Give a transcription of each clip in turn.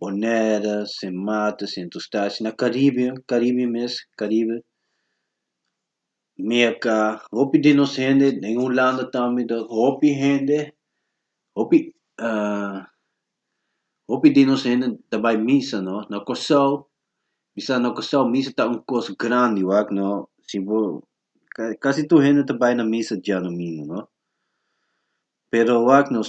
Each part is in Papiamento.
boneda sin mata sin tustashi na caribe caribe mes caribe meca hopi di nos hende den hulanda tambe ta hopi hende hopi hopi di nos hende ta bai misa no na Kòrsou bisa na Kòrsou misa ta un kos grandi wak no si bo casi tur hende ta bai na misa diadomingo no pero wak nos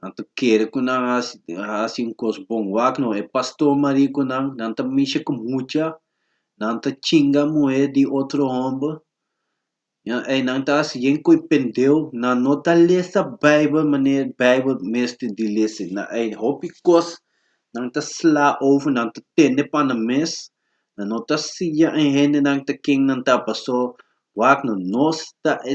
nan ta kere ku nan hasi hasi un kos bon wak no e pastor mari ku nan nan ta misha ku mucha nan ta chinga muhé di otro hòmber ya ei nan ta hasi yen ko'i pendeu nan no ta lesa baibel manera baibel mester di lesa na ei hopi kos nan ta sla over nan ta tende pana mes nan no ta siña e hendenan ta ken nan ta pastor wak no nos ta e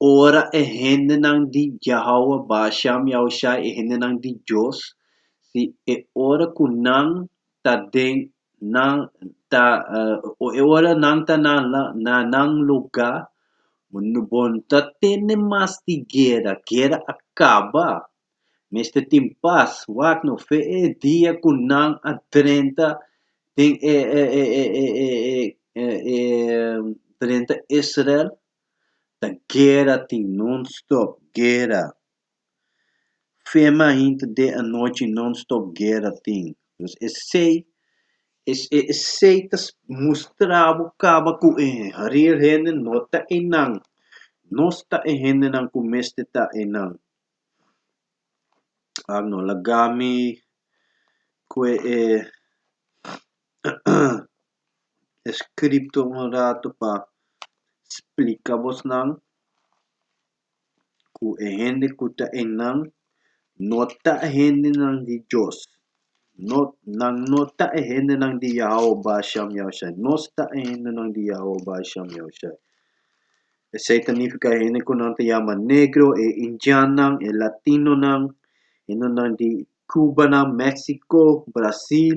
Ora e hendenan di Yahawah Basham Yahushai, e hendenan di Dios, si e ora ku nan ta den nan ta e ora nan ta na na nan lugá, bo no ta tende mas di guera, guera a kaba, mester tin pas, wak no fe e dia ku nan a drenta den e e e e e e e drenta Israel. ta guera tin non stop guera fema hinti de anochi non stop guera tin pues esey esey ta mustra bo caba cu e real hende no ta enan no sta e hendenan cu mesti ta enan a no laga mi cue e e scripto un ratu pa splica bos nan cu e hende cu ta ein nan no ta e hende nan di Dios, no nan no ta e hende nan di Yahwe Basham Yahushai, nos ta e hende nan di Yahwe Basham Yahushai, esei ta nifica e hende cu nan ta yama negro, e indiannan, e latinonan, hende nan di Cubanan, Mexico, Brasil,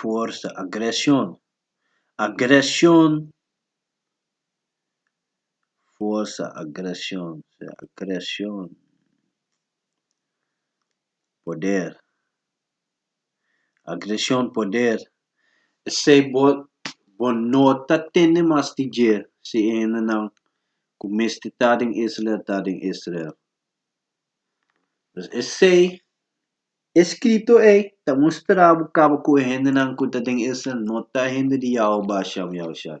Forsa, agresion, agresion. forsa agresion creacion poder agresion poder esei bo bo no ta tende mas di dje si e hendenan ku mester ta den Israel ta den Israel pues esei e scrito ei ta mustra bo kaba ku e hendenan ku ta den Israel no ta hende di Yahua Basha Yahushai.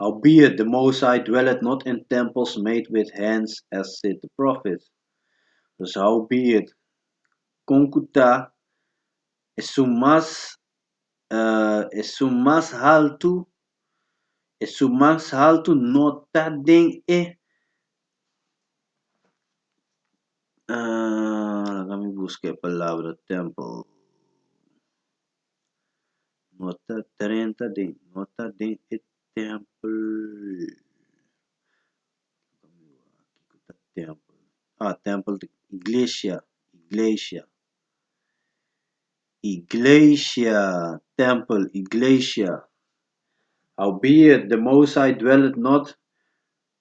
Howbeit the Most High dwelleth not in temples made with hands, as said the prophets. Dus howbeit, kon ku ta, esun mas esun mas haltu, esun mas haltu no ta den e laga mi buska e palabra tempel. Nota trenta den nota den e tempel kiko ta tempel a tempel ta iglesia iglesia iglesia tempel iglesia howbeit de most high dwellet not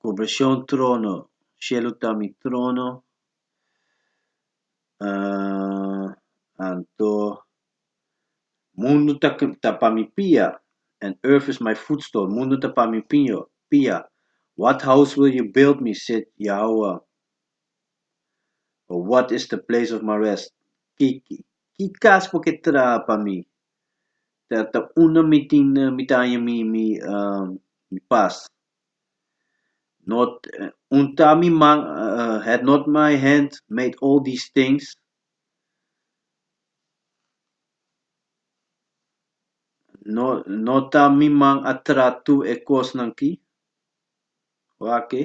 Cu beshon trono, shelu ta mi trono, anto mundu ta ta pa mi pia, and earth is my footstool, mundu ta pa mi piño pia, what house will you build me, said Yahowah, or what is the place of my rest, ki ki kas bo ke traha pa mi, ta unda mi tin mi ta haña mi mi mi pas not unta mi man had not my hand made all these things no no ta mi man a traha tur e kosnan ki Wak e.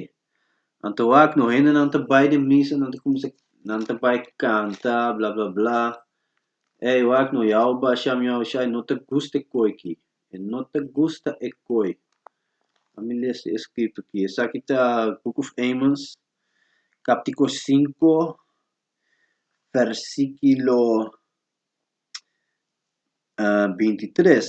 Anto wak no hendenan ta bai den misa, nan ta kuminsá, nan ta bai kanta, bla bla bla. Ey wak no ya bo bashá mi a bo shá, e no ta gusta e koi ki, e no ta gusta e koi. A mi lesa e eskrito ki, esaki ta Book of Amos, káptiko sinku, vèrsikulo binti tres.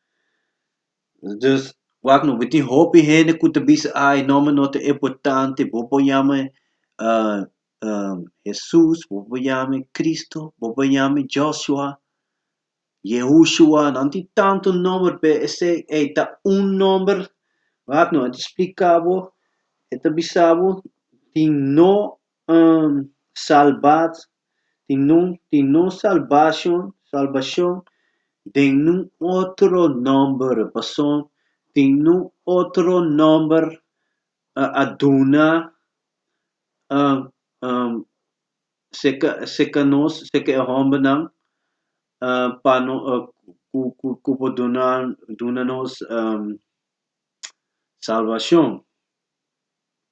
Dus, wak no, bo tin hopi hende ku ta bisa, Ai, nòmen no ta importante. Bo por yama mi Hesus, bo por yama mi Kristu, bo por yama mi Jòshua, Yehushua. Nan tin tantu nòmer, p'e esei ei ta un nòmer. Wak no, e ta splika bo, e ta bisa bo tin no N salbad tin nun tin nun salbashon salbashon den nun otro nòmber pasobra tin nun otro nòmber a a duna seka seka nos seka e hòmbernan pa no ku ku ku por duna duna nos salbashon.